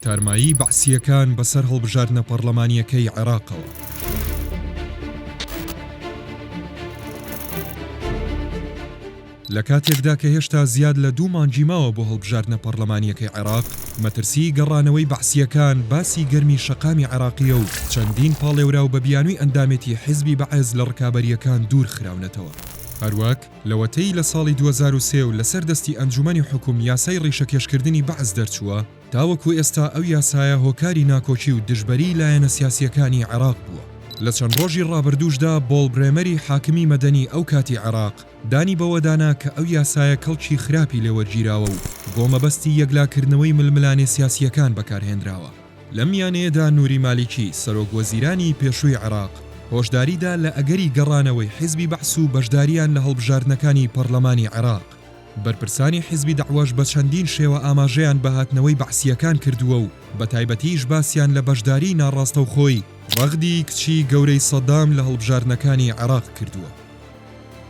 تارمایی بەعسییەکان بەسەر هەڵبژاردنە پەڕڵەمانییەکەی عێراقەوە. لە کاتێکدا کە هێشتا زیاد لە دوو مانگی ماوە بۆ هەڵبژاردنە پەڕڵەمانییەکەی عێراق، مەترسیی گەڕانەوەی بەعسییەکان باسی گەرمی شەقامی عێراقییە و چەندین پاڵێوراو بە بیانووی ئەندامێتی حیزبی بەعس لە ڕکابەرییەکان دوور خراونەتەوە. هەروەک. لەوەتەی لە ساڵی دوو هەزار و سێ و لەسەر دەستی ئەنجومەنی حوکم یاسای ڕیشەکێشکردنی بەعس دەرچووە، تاوەکو ئێستا ئەو یاسایە هۆکاری ناکۆکی و دژبەریی لایەنە سیاسییەکانی عێراق بووە. لە چەند ڕۆژی ڕابردووشدا بۆڵ برێمەری حاکمی مەدەنی ئەو کاتی عێراق دانی بەوەدا نا کە ئەو یاسایە کەڵکی خراپی لێوەرگیراوە و بۆ مەبەستی یەکلاکردنەوەی ململانێ سیاسییەکان بەکارهێنراوە. لەم یانەیەدا نوری مالیکی، سەرۆک وەزیرانی پێشووی عێراق، هۆشداری دا لە ئەگەری گەڕانەوەی حیزبی بەعس و بەشدارییان لە هەڵبژاردنەکانی پەڕلەمانی عێراق. بەرپرسانی حیزبی دەعوەش بە چەندین شێوە ئاماژەیان بە هاتنەوەی بەعسییەکان کردووە و بە تایبەتیش باسیان لە بەشداریی ناڕاستەوخۆی رەغدی کچی گەورەی سەدام لە هەڵبژاردنەکانی عێراق کردووە.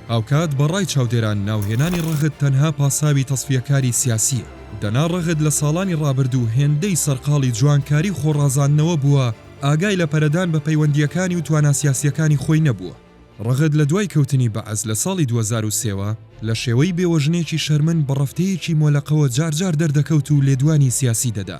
هاوکات بە ڕای چاودێران ناوهێنانی ڕەغد تەنها پاساوی تەسفیەکاری سیاسییە، دەنا ڕەغد لە ساڵانی ڕابردوو هێندەی سەرقاڵی جوانکاری و خۆڕازاندنەوە بووە، ئاگای لە پەرەدان بە پەیوەندییەکانی و توانا سیاسییەکانی خۆی نەبووە. ڕەغد لە دوای کەوتنی بەعس لە ساڵی دوو هەزار و سێ وە، لە شێوەی بێوەژنێکی شەرمن بە ڕەفتەیەکی مۆلەقەوە جارجار دەردەکەوت و لێدوانی سیاسی دەدا،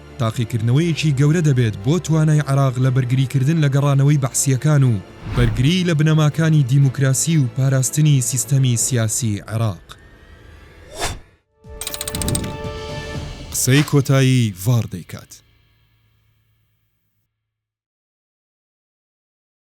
تاقیکردنەوەیەکی گەورە دەبێت بۆ توانای عێراق لە بەرگریکردن لە گەڕانەوەی بەعسییەکان و بەرگریی لە بنەماکانی دیموکراسی و پاراستنی سیستەمی سیاسیی عێراق. قسەی کۆتایی ڤاڕ دەیکات.